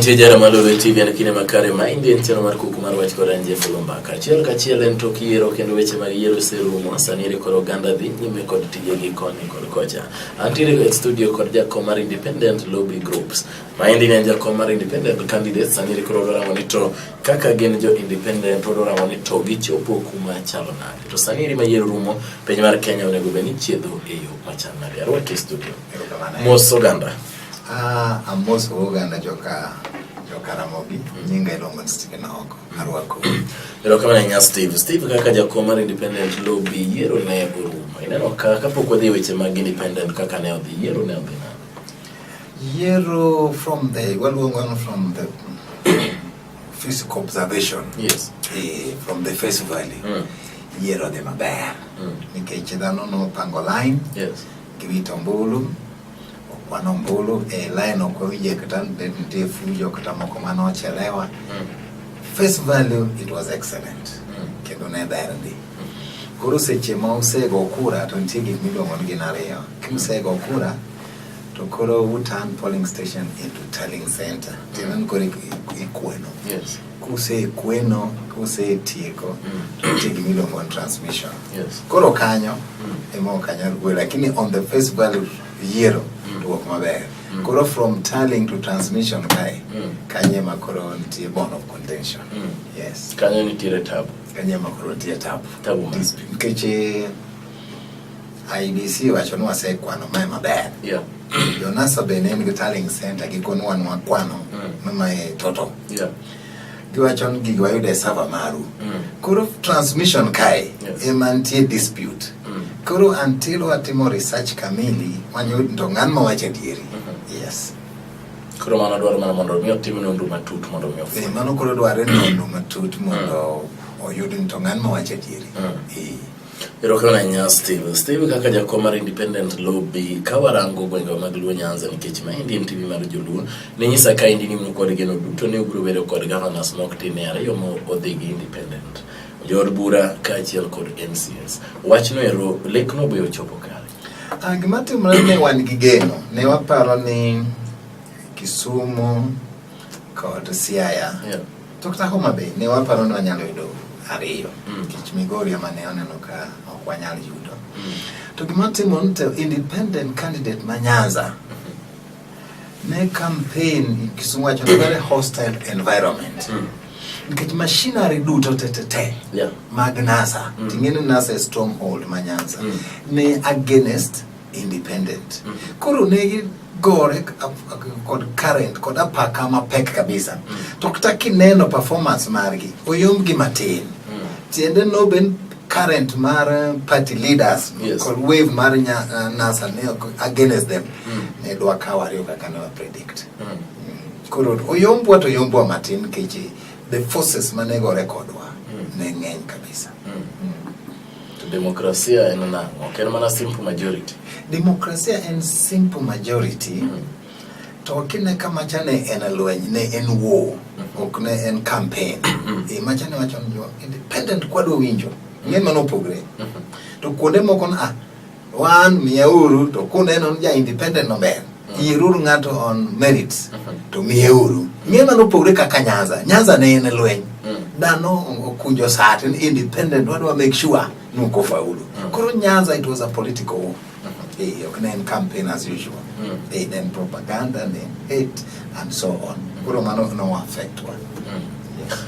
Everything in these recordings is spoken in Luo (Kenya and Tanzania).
Mantie jara maloro TV en kinde makare ma indi en chero mar kuku mar wach kod anje fulumba kachiel kachiel en tok yiero kendo weche mag yiero serumo sani ere koro oganda dhi nyime kod tije gi koni kod kocha Antiere e studio kod jakom mar Independent Lobby Groups. Maendi ne jakom mar Independent Candidates sani koro dwaramo ni to kaka gin jo Independent to dwaramo ni to gichopo kuma chalo nade. To sani eri mayiero rumo piny mar Kenya onego bed ni chiedho e yo machal nade. Arwaki e studio. Mos oganda. Ah, amos oganda joka jokaramogi nyinga iluongo ni Stephen Oko arwako erokamano ahinya steve steve kaka jakuo mar independent lobby yiero ne orumo ineno ka kapok wadhi e weche mag independent kaka ne odhi yiero ne odhi nade yiero from the waluongo no from the physical observation yes eh, from the face value Mm. yiero dhi maber Mm. nikech dhano nopango line yes giwito ombulu Okwano ombulu e line ok owinje kata ne nitie fujo kata moko mane ochelewa. Mm. Face value it was excellent. Mm. Kendo ne ber ndi. Koro seche ma usego kura to nitie gik miluongo ni gin ariyo. Kusego kura to koro u turn polling station into telling center. Tinan koro ikweno. Yes. kusekweno kusetieko mm. to nitie gima iluongo ni transmission yes. koro kanyo mm. ema ok anyal wuoyo lakini on the face value yiero mm. duok maber mm. koro from tallying to transmission kae mm. kanye ema koro nitie bone of contention mm. yes. kanyo nitiere tabu kanye ema koro nitie tabu tabu nikech eh, IBC wacho ni wasekwano mae maber. Yeah. Jonasa be ne en gi tallying center gikonwa ni wakwano mm. mae total. Yeah. Giwacho ni gigi wayudo e server maru. Mm. Koro transmission kae yes. ema nitie dispute. Mm. Koro until watimo research kamili wanyud to ng'an ma wacho adieri. Mm -hmm. Yes. Koro mano dwaro mana mondo mi otim nonro matut mondo mi ofweny. Eh, mano koro dwaro nonro matut mondo mm. oyud ni to ng'an ma wacho adieri. Mm. Eh. Erokamano ahinya Steve. Steve kaka jakom mar Independent Lobby ka warango gwengewa mag Luo Nyanza nikech ma endi en TV mar Joluo ne nyisa ka endi ni un kod geno duto ne ubiro bedo kod governors mok tin e ariyo ma odhi gi independent jood bura kaachiel kod MCS. Wachno ero lekno be ochopo kare. Ah, gima timore ne wan gi geno ne waparo ni Kisumu kod Siaya yeah. Tokta Homa Bay ne waparo ni wanyalo yudo ariyo mm. nikech Migori ema ne oneno ka ok wanyal yudo mm. to gima timo ni to independent candidate ma Nyanza mm-hmm. ne campaign Kisumu wacho ni very hostile environment mm. nikech machinery duto tetete yeah. mag NASA mm. ting'eni NASA stronghold ma Nyanza mm. ne against independent. Mm -hmm. Koro ne gore kod current kod apaka mapek kabisa. Mm -hmm. To kata kineno performance margi oyom gi matin. Mm -hmm. Tiende no ben current mar eh, party leaders yes. kod wave mar nya, uh, NASA ne against them. Mm -hmm. Ne dwa kawo ariyo kaka ne wa predict. Mm -hmm. Koro oyombwa to oyombwa matin keche the forces manego rekodwa mm. ne ng'eny kabisa mm. Mm. To demokrasia en nang'o? Ok en mana simple majority. Demokrasia en simple majority. Mm -hmm. To kine ka macha ne en lweny, ne en war, mm-hmm. ok ne en campaign. Mm-hmm. e macha ne wacho ni independent kwadwa winjo. Ng'e mano opogre. Mm-hmm. To kuonde moko na Wan miyeuru to kuneno ni ja independent no ber. Mm. Yieruru ng'ato on merits mm -hmm. to miyeuru. Ng'e mano opogore kaka Nyanza. Nyanza ne en lweny. Mm. Dhano okunjo sat ni independent wadwa make sure ni uko faulu. Mm. Koro Nyanza it was a political war. Mm -hmm. Hey, ok ne en campaign as usual. Mm. Hey, then propaganda, then hate and so on. Mm. Koro mano no affect one. Mm.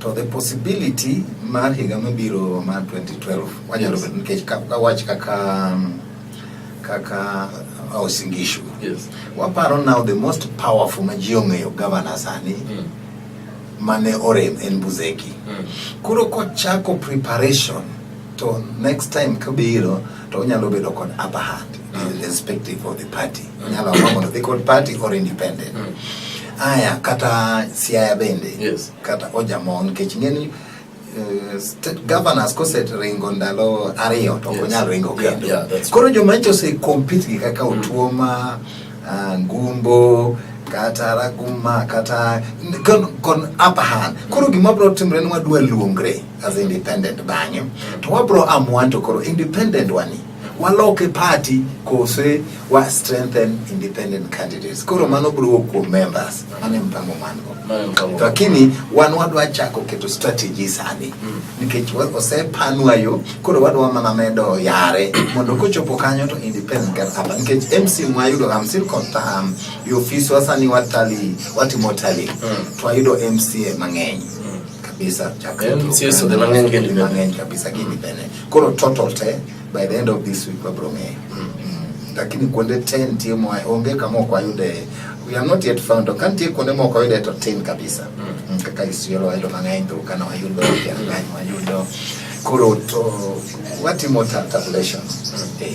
to the possibility mar higa mabiro mar 2012 wanyalo bedo nikech wach kaka kaka uh, osingishu yes. waparo now the most powerful ma ji ong'eyo gavana sani mm. mane orem en buzeki mm. koro kochako preparation to next time kabiro to onyalo bedo kod upper hand mm. irrespective of the party mm. onyalo amua mondo dhi kod party or independent mm. aya kata siaya bende yes. kata ojamon nikech ng'eni eh, state governors koseringo ndalo ariyo to ok onyal ringo kendo koro joma nyocha osekompit gi kaka mm. otuoma ah, ngumbo kata raguma kata kon upper hand koro gima bro timre ni wadwa luongre as independent bang'e to wabro amwan to koro independent wani waloke party kose wa strengthen independent candidates koro mano biro kuom members mane mpango mango lakini wan wadwa chako keto strategy sani mm. nikech osepanwa yo koro wadwa mana medo yare mondo kochopo kanyo to independent can happen nikech MC mwayudo I'm still confirm yo office wasani watali watimo tali mm. twayudo MCA mang'eny mm. kabisa chakre mang'eny kabisa kidhi bene Koro total te by the end of this week wabro ng'eyo. Mm. Lakini kuonde 10 tie mwa onge kama ok wayude. We are not yet found. To kan tie kuonde moko wayude to tin kabisa. Mm. Kaka Isiolo wayudo mang'eny to kana wayudo pia ng'any wayudo. Koro to watimo ta- tabulation. Eh.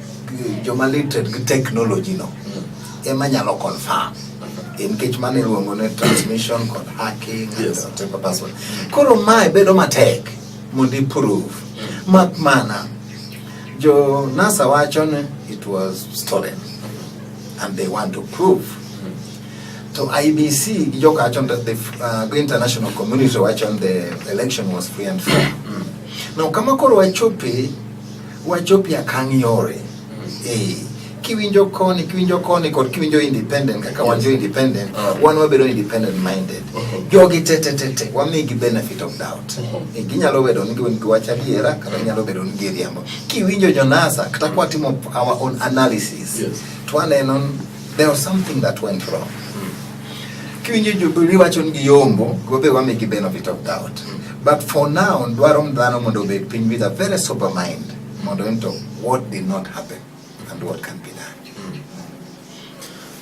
joma literate gi technology no ema nyalo confirm nikech mano iluongo ni transmission kod hacking yes. and temper password koro mae bedo matek mondo iprove mak mana jo nasa wacho ni it was stolen and they want to prove to IBC gi joka wacho that the uh, go international community wacho the election was free and fair mm. now kama koro wachope Wachopi akang' yore. Mm. Eh, kiwinjo koni, kiwinjo koni kod kiwinjo independent kaka wan jo independent, mm. wan wabedo independent minded. Mm-hmm. Jogi te te te te wamigi benefit of doubt. Mm-hmm. Eh, ginyalo bedo ni gin giwacho adiera kata ginyalo bedo ni giriambo. Kiwinjo Jonasa kata kwa timo our own analysis. Yes. Twaneno there was something that went wrong. kiwinjo riwacho ni giyombo gobe wame gi benefit of doubt but for now dwaro dhano mondo obed piny with a very sober mind mondo ento what did not happen and what can be done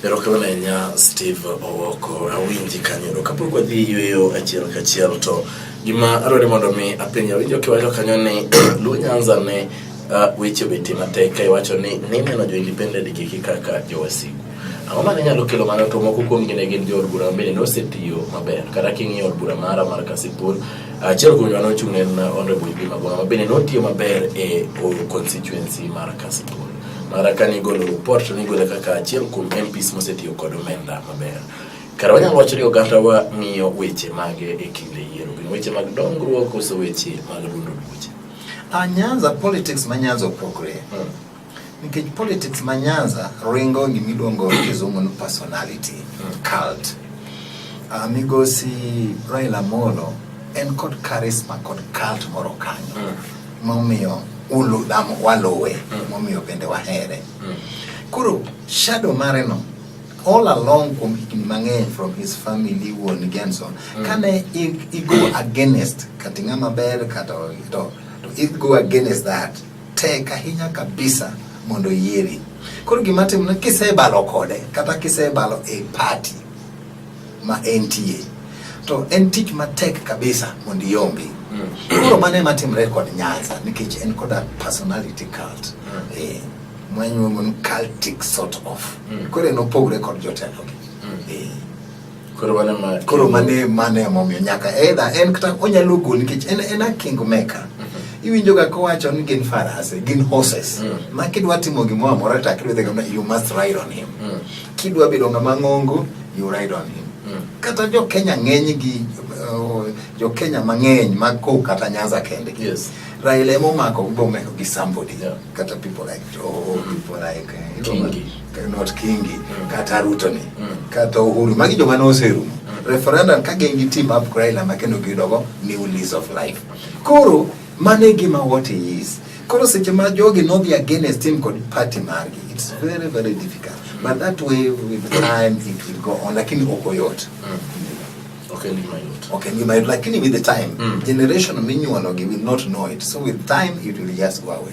Erokamano ahinya Steve Owoko, awinji kanyo. Kapok wadhi yueyo achiel kachiel to gima adwaro ni mondo mi apenja winjo kiwacho kanyo ni Luo Nyanza ne uh, weche obeti matek ka iwacho ni nineno jo independent gi kaka jowasigu. Ang'o ma ne nyalo kelo mano to moko kuom gi ne gin jood bura mabende nosetiyo maber. Kata king'iyo od bura mara mar Kasipul, achiel kuom joma nochung' ne en Honorable Yugi Magoma mabende notiyo maber e constituency mar Kasipul. Mara ka nigolo report to nigole kaka achiel kuom MPs mosetiyo kod omenda maber. Kara wanyalo wacho ni oganda wa ng'iyo weche mage e kinde yiero. Gin weche mag dongruok koso weche mag dundo duoche. A Nyanza, politics ma Nyanza opogre. Mm. Nikech politics ma Nyanza ringo gima iluongo kizungu ni personality hmm. cult. Uh, migosi Raila Amolo en kod charisma kod cult moro kanyo hmm. momiyo ulu dam waluwe hmm. momiyo bende wahere. Koro shadow mare no all along kuom higni mang'eny from his family wuon Genson kane i go against kata ng'ama ber kata to i go against that tek ahinya kabisa mondo oyieri. Koro gima timore kisebalo kode kata kisebalo e party ma entie to en tich matek kabisa mondo iombi. Mm. Koro mano ema timre kod Nyanza nikech en koda personality cult. Mm. Eh, mwanyuomo cultic sort of. Mm. Koro en opogre kod jotelo gi. Koro mano ma koro mane mane emomiyo nyaka edha en kata onyalo gol nikech en en a king maker mm-hmm. iwinjo ga kowacho ni gin farase gin horses mm. ma kidwa timo gimoro amora to akidwa dhega na you must ride on him mm. kidwa bedo ng'ama ng'ongo you ride on him mm. kata jo Kenya ng'eny gi uh, jo Kenya mang'eny mag ko kata Nyanza kende yes. Raila emomako bomeko gi somebody yeah. kata people like oh, people like uh, not Kingi mm. kata Ruto ni mm. kata Uhuru magi joma noserumo mm. referendum ka gin gi team up Raila ma kendo giyudogo new lease of life koro mano e gima what he is koro seche ma jogi nodhi against him kod party margi it's very very difficult mm. but that way with time it will go on lakini ok oyot mm. Okay, leave my note. Okay, leave my note. Lakini with the time, mm. generation minyuologi will not know it. So with time, it will just go away.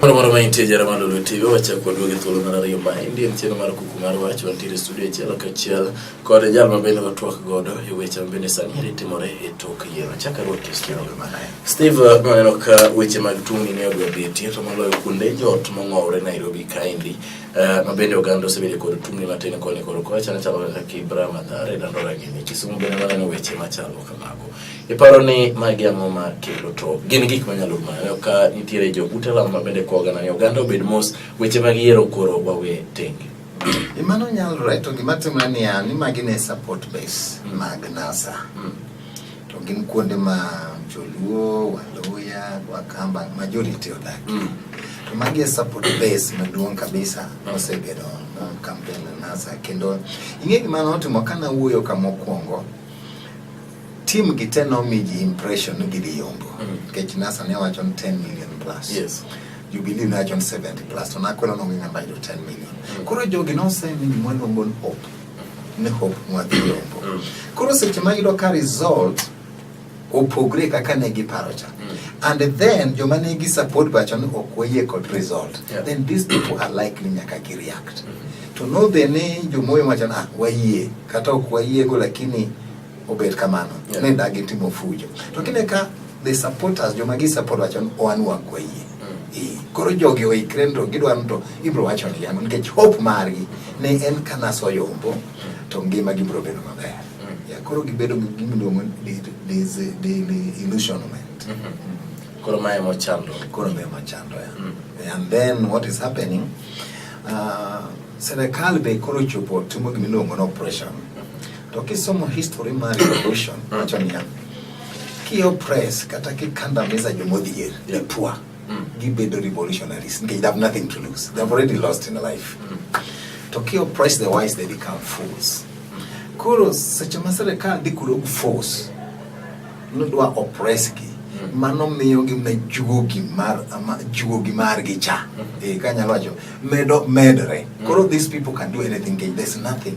Moro moro ma intie jara malo lweti go wachak wadwa gi thuolo mar ariyo ma endi en chenro mar kuku mar wach wantiere e studio achiel kachiel kod jal ma bende watwak godo e weche ma bende sani eri timore e tok yiero chaka ruot e studio Steve maneno ka weche mag tungni ne odwa betie to moloyo kuonde joot mong'owre Nairobi kaendi eh, ma bende oganda osebedo kod tungni matin koni kod kocha ne chalo kaka Kibra, Mathare, Dandora gini Kisumu bende maneno weche machalo kamago Iparo ni magi ang'o ma kelo to gin gik manyalo mayo ka nitiere jo utelam ma bende koga na oganda obed mos weche mag yiero koro wawe tenge. E mano nyalore to gima timre niya ni magi ne support base mm. mag NASA. Mm. To gin kuonde ma Joluo, Waluya, Wakamba majority odak. Mm. To magi e support base maduong' kabisa mm. osebedo uh, campaign NASA kendo ing'e gima notimo kana wuoyo ka mokwongo Team gi te nomi ji impression ni gidhi yombo. Mm. Nikech NASA ne wacho ni 10 million plus. Yes. Jubilee ne wacho ni 70 plus. To nakwelo nongi ng'amba yudo 10 million. Mm. Koro jogi nosemi gimwa luongo ni hope. Ni hope mwa dhi yombo. Mm. Koro seche ma yudo ka result opogre kaka ne giparo cha. Mm. And then joma ne gi support bacho ni ok wayie kod result. Yeah. Then these people are likely nyaka gi react. Mm. To nodhi ni jomoyo wacho ni ah wayie kata ok wayiego lakini obet kamano yeah. ne dagi timo fujo to kine ka the supporters joma gi support wacho ni oan wakwa yie mm. koro jogi oikre to gidwaro to ibro wacho ni yango nikech hope margi ne en kana soyombo mm. to ngima gi bro bedo maber mm. ya koro gibedo gi gimiluongo ni illusionment mm -hmm. koro mae mochando koro mae mochando ya mm. and then what is happening uh, serikal be koro chopo timo gimiluongo ni operation mm -hmm. Tukisoma history mar revolution mm. wacho niya kiyo press kata kikandamiza jomodhier lipwa mm. gibedo revolutionaries they have nothing to lose they have already lost in life mm. to kiyo press the wise they become fools koro seche ma sirikal dhi kuro force nodwa oppressgi mano miyo gi na juogi mar ama juogi mar gi cha e kanyalo wacho medo medre koro these people can do anything there's nothing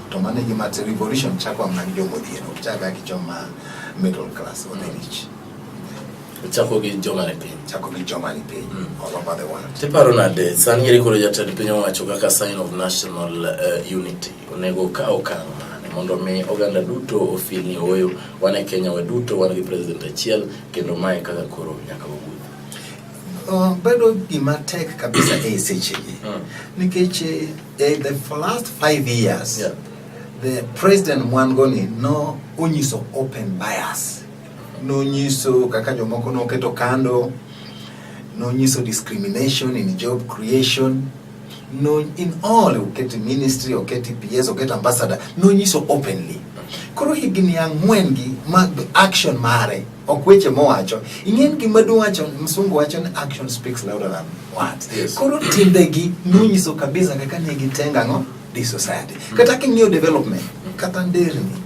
to mano e gima revolution chako amna gi jogo odhieno ok chak gi joma middle class or the rich chako gi joma ni piny chako gi joma ni piny mm. all over the world tiparo nade san ngeri koro jatend piny owacho kaka sign of national uh, unity onego ka okang mane mondo mi oganda duto ofil ni oyo wan e Kenya waduto wan gi president achiel kendo mae kaka koro nyaka wawuoth Uh, bedo gima tek kabisa e sechegi mm. nikech eh, eh, the for last five years yeah. the president mwangoni no onyiso open bias nonyiso kaka jomoko noketo kando nonyiso discrimination in job creation no in all oketi ministry oketi ps oketi ambassador nonyiso openly koro higni ang'wen gi mag action mare ok weche mowacho ing'eni gima duwacho msungu wacho ni action speaks louder than words yes. koro timbegi nonyiso kabisa kaka ne gitenga ng'o di society mm. kata king'iyo development mm. kata nderni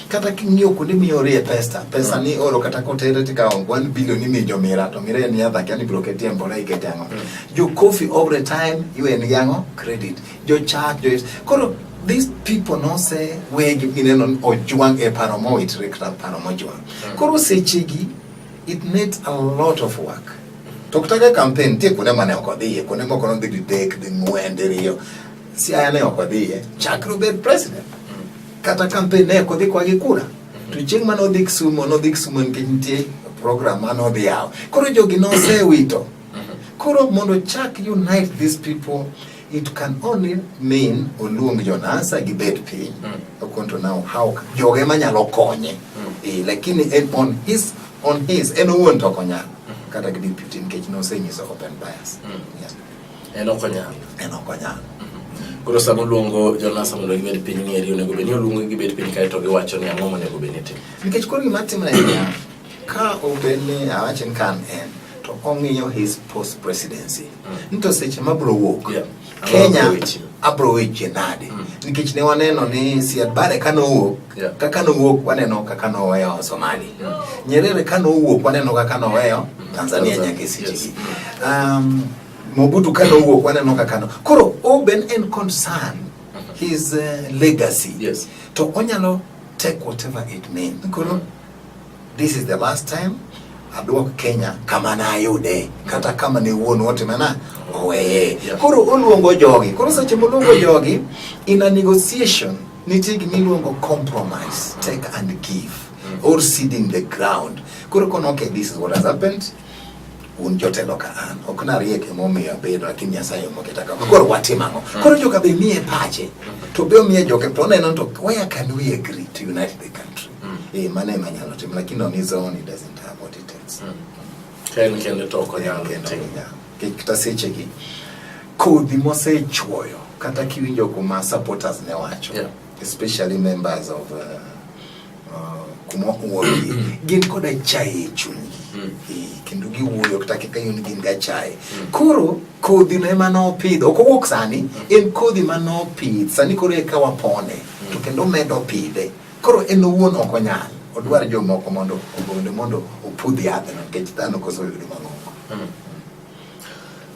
kata king'iyo kuonde miyorie pesa pesa mm. ni oro kata kotere tikawo 1 billion imiyo jomira to mira en yadha kia ni biro ketie e mbola ikete ang'o mm. jo coffee every time iwen gi ang'o credit jo chak jo koro these people no say we gineno ojwang e paro mowitore kata paro mojwang Koro sechegi it made a lot of work. To kutaka campaign nitie kuonde mane ok odhiye, kuonde moko nodhi didek, ding'wen, diriyo. Siaya ne ok odhiye, chakre obed president. Kata campaign ne ok odhi kwa gi kura. To chieng' mane odhi Kisumu, nodhi Kisumu nikech nitie program mane odhi yawo. Koro jogi nosewito. Koro mondo chak unite these people It can only mean oluong Jonasa gi bed piny. Mm. I want to know how joge manyalo konye. Mm. Eh, lakini en on his on his en owuon to okonyal. Mm. Kata gi deputy nikech nosenyiso open bias. Mm. Yes. En okonyal. En okonyal. Mm-hmm. Koro sama oluongo Jonasa mondo gibed piny ni eri onego bed ni oluongo gibed piny kae to giwacho ni ang'o monego bed ni tim. Nikech koro gima timre en Ka obed ni awache ni kan en to ong'iyo his post presidency ni to seche mabro wuok Yeah. Kenya Abro weche. abro weche nade nikech ne waneno ni Siad Barre ka nowuok Yeah. kaka nowuok waneno kaka noweyo Somali Nyerere ka nowuok waneno kaka noweyo Tanzania Tanzania, nyaka e seche yes. gi um, Mobutu ka nowuok waneno kaka no koro Oben en concern his uh, legacy Yes. to onyalo take whatever it means koro This is the last time aduok Kenya kama nayude kata kama ne wuon wote mana oweye. Koro oluongo jogi. Koro seche moluongo jogi in a negotiation nitie gima iluongo compromise, take and give mm. or seeding the ground. Koro kono okay, this is what has happened un jotelo ka an ok nariek emomiyo abedo lakini nyasaye omoketa kama koro watim ang'o mm. koro joka be miye pache mm. to be omiye joke to oneno to where can we agree to unite the country Mm. Eh, mano ema nyalo timo lakini on his own he doesn't have what it takes. Mm. Ken kende to ok onyal timo. Kata seche gi kodhi mosechuoyo kata kiwinjo kuma supporters ne wacho yeah. especially members of uh, uh, kuma uogi mm. gin koda chaye e chunygi mm. e, kendo giwuoyo kata kaka yun gin ga chaye mm. koro kodhi no ema nopidho ok owuok sani mm. en kodhi ma nopidh sani koro eka wapone mm. to kendo medo pidhe Koro en owuon ok onyal, odwar jomoko mondo ogone mondo opudh yadhno nikech dhano koso yudo mang'ongo. Hmm.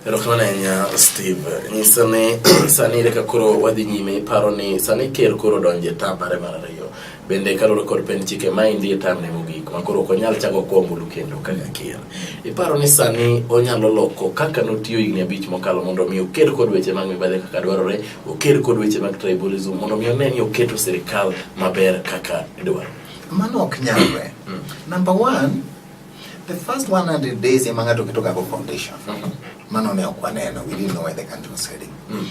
Erokamano ahinya Steve. Nyiso ni sani ere ka koro wadhi nyime iparo ni sani ker koro donje ta mare mar ariyo. Bende kaluwore kod pen chike ma endi e tam ne mogik ma koro ok onyal chako kwa ombulu kendo kaka ker. Iparo ni sani onyalo loko kaka notiyo higni abich mokalo mondo omi oker kod weche mag mibadhi kaka dwarore oked kod weche mag tribalism mondo mi one ni oketo sirikal maber kaka idwaro. Mano ok nyalre. Mm. Number one, the first 100 days ema ng'ato keto gago foundation. Mm -hmm. Mano ne ok waneno, we didn't know where the country was heading. Mm.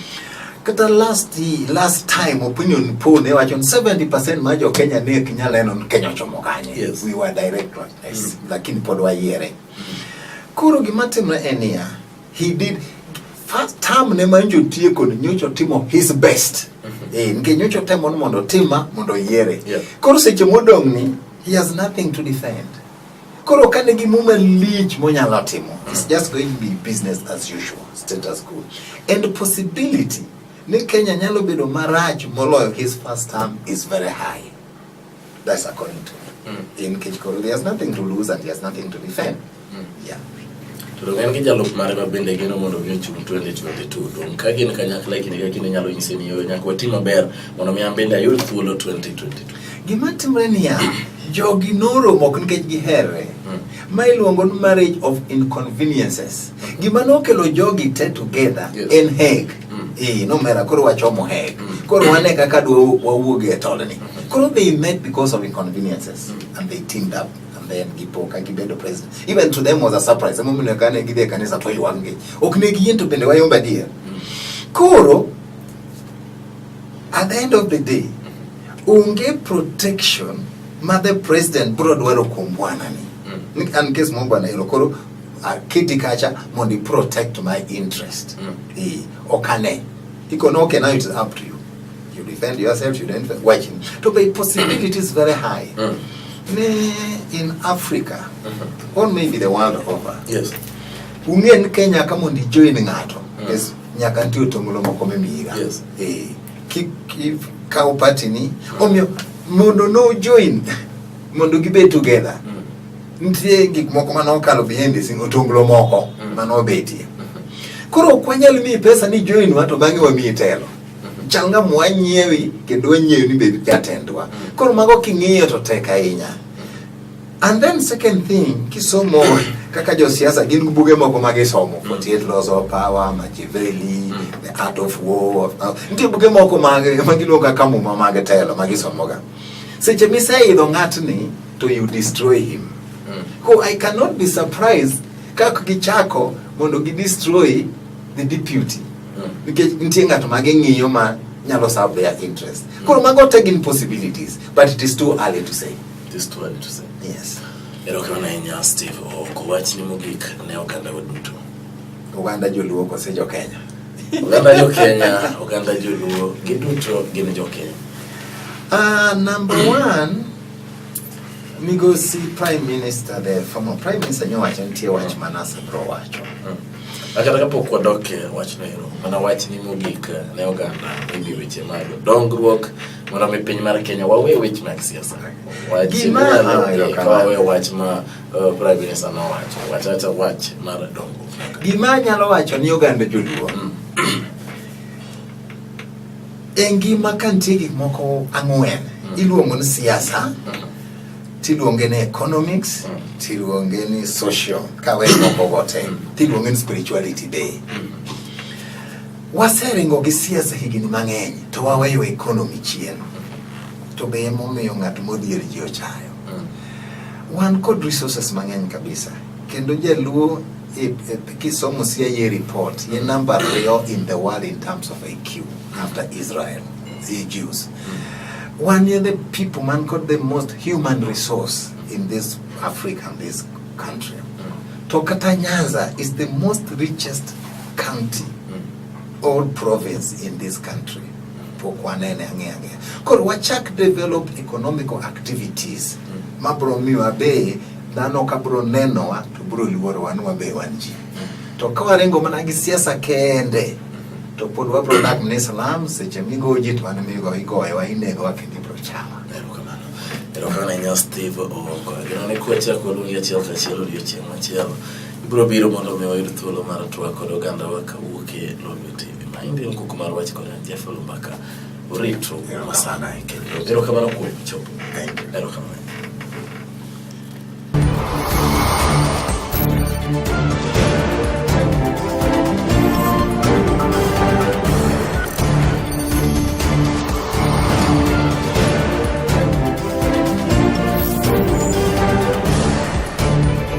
Kata last last time opinion poll ne wacho 70% ma jo Kenya ne ok nyal neno ni Kenya ochomo kanye. Yes. We were direct, yes. Mm. Lakini pod wayiere. Mm. Koro gima timre en niya, he did first term ne manjo tieko ni nyocho timo his best mm-hmm. eh nge nyocho temo ni mondo tima mondo yiere yeah. koro seche modong ni he has nothing to defend koro ka ne gimuma lich monyalo timo mm-hmm. it's just going to be business as usual status quo and possibility ni Kenya nyalo bedo marach moloyo his first term is very high That's according to me. Mm. In Kichikoro, he has nothing to lose and he has nothing to defend. Mm. Yeah. To en gi jalup mare ma bende gino mondo mi ochung 2022 to ka gin kanyakla kinde ka kinde nyalo nyise ni yo nyaka wati maber mondo mi an bende ayud thuolo 2022 gima timre niya jogi noromo ok nikech giherre hmm. ma iluongo ni marriage of inconveniences hmm. gima nokelo jogi te together yes. en heg mm. eh no mera koro wachomo hek mm. koro wane kaka dwa wawuog e tolni mm. koro they met because of inconveniences mm. and they teamed up and then gipo ka gibedo president even to them was a surprise emo mine kane gidhe kanisa to ywang'e ok ne giyie to bende wayomba dier mm. koro at the end of the day onge protection ma the president bro dwaro kuom bwana ni mm. an case mo bwana ero koro aketi kacha mondo i protect my interest mm. e, ok ane ikono ok now it's up to you you defend yourself you don't watching to be possibility is very high mm. ne in africa mm -hmm. or maybe the world over yes ung'e ni kenya ka mondo ijoin ng'ato mm. yes, nyaka nitie otongolo moko mimiyiga yes. e, kik kaw patini mm. omiyo mondo no join mondo gibed together mm. Nitie gik moko ma nokalo behind the scene, otonglo moko mm. ma nobetie. Koro ok wanyal miyi pesa ni join wa to bang'e wamiyi telo. Mm-hmm. Chal nga mwa nyiewi kendo wanyiewi ni bed jatendwa. Mm. Koro mago king'iyo to tek ahinya. Mm-hmm. And then second thing, kisomo kaka josiasa gin gi buge moko ma gisomo, 48 Laws of Power, Machiavelli, The Art of War, nitie buge moko ma giluongo kaka muma mag telo ma gisomoga. Seche miseidho ng'atni to you destroy him. Mm. Ko I cannot be surprised kaka gichako mondo gi destroy the deputy. Mm. Nikech nitie ng'at ma ging'iyo ma nyalo serve their interest. Mm. Koro mago te gin possibilities but it is too early to say. It is too early to say. Yes. Erokamano ahinya Steve Owoko. Wachni mogik ne oganda waduto. Oganda joluo kose jo Kenya? Oganda jo Kenya, oganda joluo, giduto gin jo Kenya. Uh, number one, migosi prime minister the former prime minister nyowacho nitie wach manase bro wacho mm. akata kapok wadok e wachno ero mana wachni mogik ne oganda ewi weche mag dongruok mondo mi piny mar kenya wawe weche mag siasa wawe wach ma Uh, Prime Minister nowacho wachacha wach mar dongo. Gima anyalo wacho ni oganda joluo mm. e ngima ka nitie gik moko ang'wen mm. iluongo ni siasa mm. tiluonge ni economics mm. tiluonge ni social kawe moko gote mm. tiluonge ni spirituality day mm. waseringo gi siasa higni mang'eny to waweyo economy chien to be emomiyo ng'at modhier ji ochayo Wan kod resources mang'eny kabisa kendo jaluo e, e, kisomo sia ye report ye namba ariyo in the world in terms of IQ after Israel the Jews mm. wan ye the people man kod the most human resource in this Africa and this country mm. to kata Nyanza is the most richest county old province in this country pok wanene ang'e ang'e koro wachak develop economical activities mm. ma bro miwa be dhano ka bro nenowa to bro luorowa ni wabe wan ji mm. to ka waringo mana gi siasa kende to pod wabro dak ni salam seche migo ji to wan migo igoyowa inegowa kendo ibro chama erokamano nyas steve ogo gino ni kuachako lugi achiel kachiel odiochieng' machielo Ibiro biro mondo mi wayud thuolo mar twak kod oganda wa kawuok e Lolwe TV. Ma indi en kuku mar wach kod Jeff Lumbaka. Uritru masana kendo erokamano kuom chopo. Erokamano.